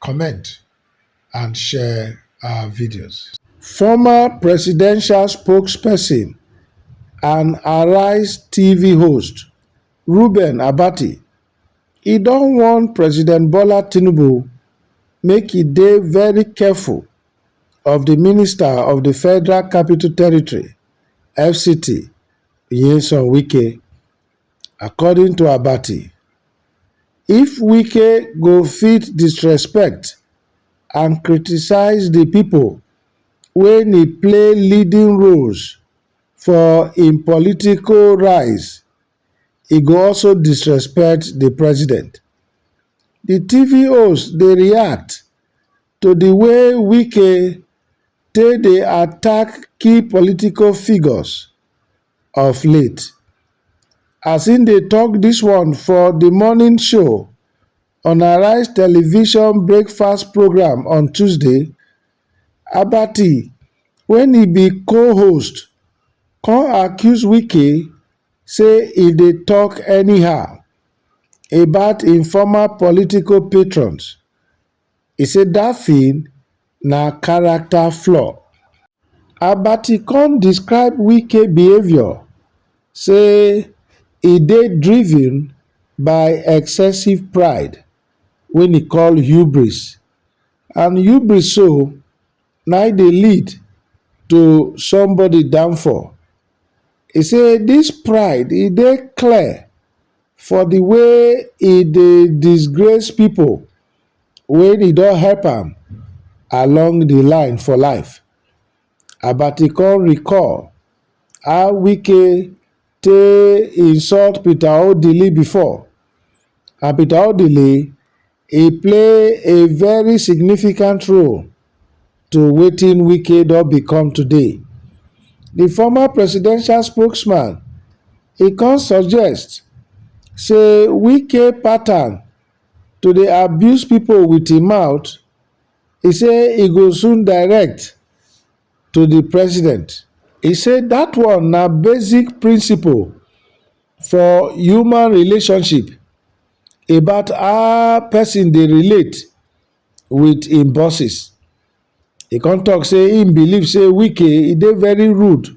comment and share our videos. Former presidential spokesperson and Arise TV host Reuben Abati e don warn President Bola Tinubu make e dey very careful of the Minister of the Federal Capital Territory, FCT, Nyesom Wike. According to Abati, if Wike go fit disrespect and criticize di pipo wey ni play leading roles for im political rise, e go also disrespect di president. Di TV host dey react to di way Wike take dey attack key political figures. of late. As im dey tok dis one for di morning show on Arise television breakfast programme on Tuesday, Abati wey e be co-host come accuse Wike say e dey tok anyhow about im former political patrons E say dat thing na character flaw. Abati come describe Wike behaviour say e dey driven by excessive pride wey e call hubris and hubris so na im dey lead to somebody downfall. He say dis pride e dey clear for the way e dey disgrace people wey e don help am along the line for life. Abati come recall how Wike take insult Peter Odili before and Peter Odili E play a very significant role to wetin Wike don become today. Di former presidential spokesman e come suggest say Wike pattern to dey abuse pipo wit im mouth, e say e go soon direct to di president. E say dat one na basic principle for human relationship about how person dey relate with im bosses. He come talk say he believe say Wike he dey very rude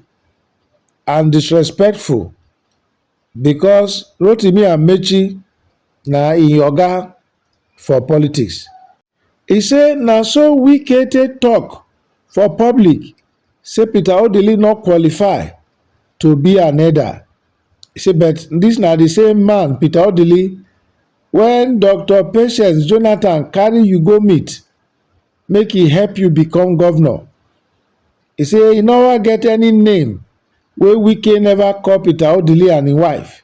and disrespectful because Rotimi Amechi na im oga for politics. E say na so Wike take tok for public say Peter Odili no qualify to be an elder. E say but dis na di same man, Peter Odili, wen Doctor Patience Jonathan carry you go meet make e help you become govnor. E say e nova get any name wey Wike neva call Peter Odili and im wife.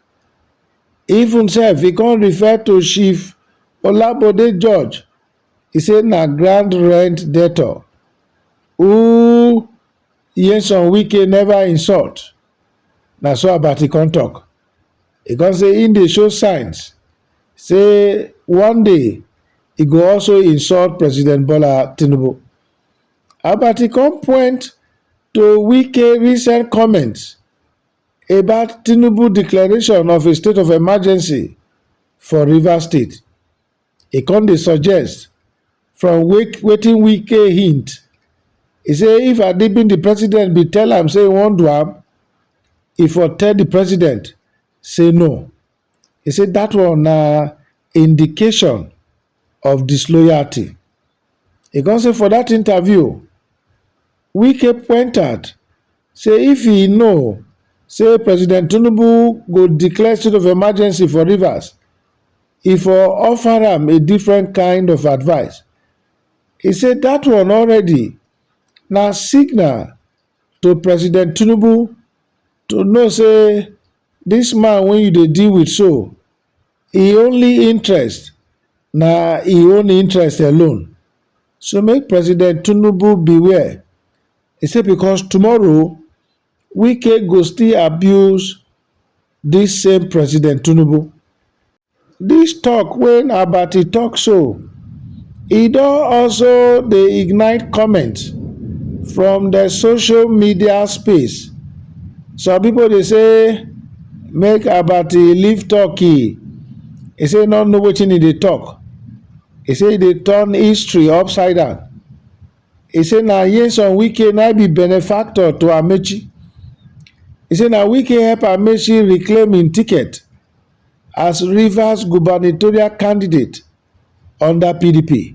Even sef e come refer to Chief Olabode George, e say na grand rent debtor who Nyesom Wike never insult, na so Abati come talk. E come say im dey show signs say one day e go also insult President Bola Tinubu. Abati come point to Wike recent comments about Tinubu declaration of a state of emergency for Rivers State. E come dey suggest from wetin Wike hint. E say if I bin the president bin tell am say e wan do am, e for tell the president say no. E say dat one na indication of disloyalty. E come say for dat interview, Wike point out say if e know say President Tinubu go declare state of emergency for Rivers, e for offer am a different kind of advice. E say dat one already na signal to President Tinubu to know say This man wey you dey deal with so, e only interest na e own interest alone, so make President Tinubu beware, e say because tomorrow Wike go still abuse this same President Tinubu. Dis tok wey Nabaty tok so, e don also dey ignite comments from de social media space. Some pipo dey say make Abaty leave Turkey, e say e no know wetin e dey tok, e say e dey turn history upside down, e say na Nyesom Wike na im be benefactor to Amaechi, e say na Wike help Amaechi reclaim im ticket as Rivers gubernatorial candidate under PDP.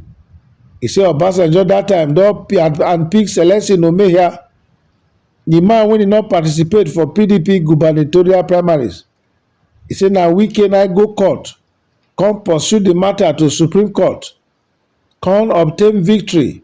He say Obasanjo that time don and pick Celestin Omehia, the man wey did not participate for PDP gubernatorial primaries. He say na Wike na go court, come pursue the matter to Supreme Court, come obtain victory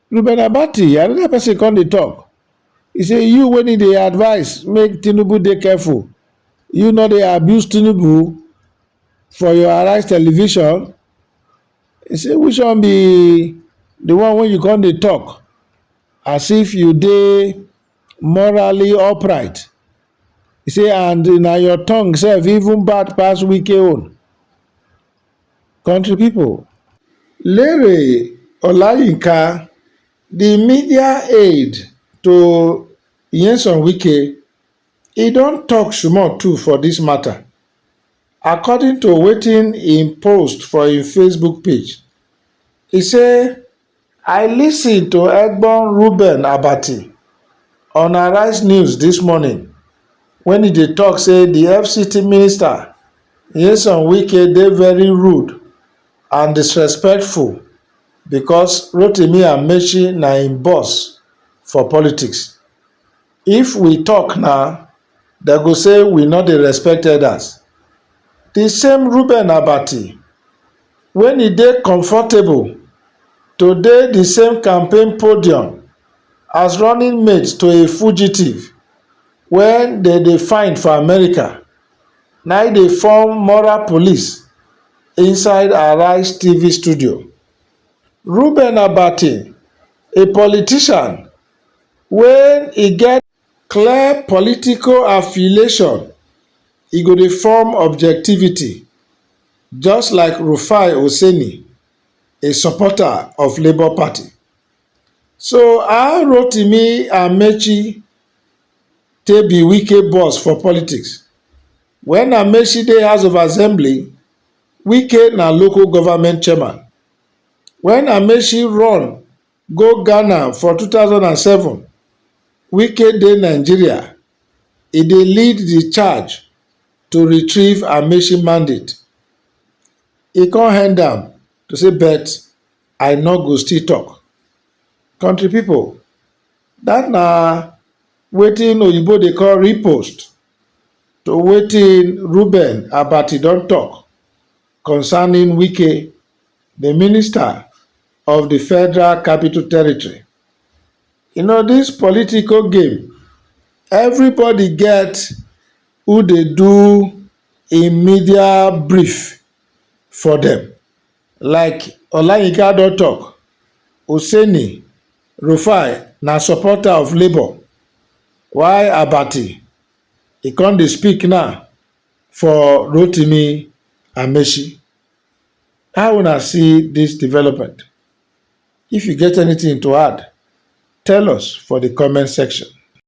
Ruben Abati, another person come dey talk. He say you when he dey advise make Tinubu dey careful, you no dey abuse Tinubu for your Arise television. He say which one be the one when you come dey talk as if you dey morally upright. He say and na your tongue sef even bad pass Wike own. Country people, Lere Olayinka, di media aide to Nyesom Wike, e don tok small too for dis mata. According to wetin im post for im Facebook page, e say, I listen to Egbon Reuben Abati on Arise News this morning when he dey talk say the FCT minister Nyesom Wike dey very rude and disrespectful because Rotimi Amechi na im boss for politics. If we talk now, dem go say we no dey respect elders. The same Reuben Abati wen e dey comfortable to dey di same campaign podium as running mate to a fugitive wey dem dey find for america na im dey form moral police inside arise tv studio. Reuben Abati, a politician wey e get clear political affiliation, e go dey form objectivity. just like Rufai Oseni, a supporter of Labour Party. So how Rotimi Amechi take be Wike boss for politics? When Amechi dey House of Assembly, Wike na local government chairman. When Amechi run go ghana for two thousand and seven wike dey nigeria e dey lead di charge to retrieve amaechi mandate e come end am to say but i no go still talk country people that na wetin oyibo dey call repost to wetin Reuben Abati don talk concerning wike the minister of di Federal Capital Territory. You know dis political game, everybody get who dey do im media brief for dem. Like Olayinka don talk, Hussaini, Rufai na supporter of Labour while Abati e come dey speak now for Rotimi Amaechi. How una see dis development? If you get anything to add, tell us for di comment section.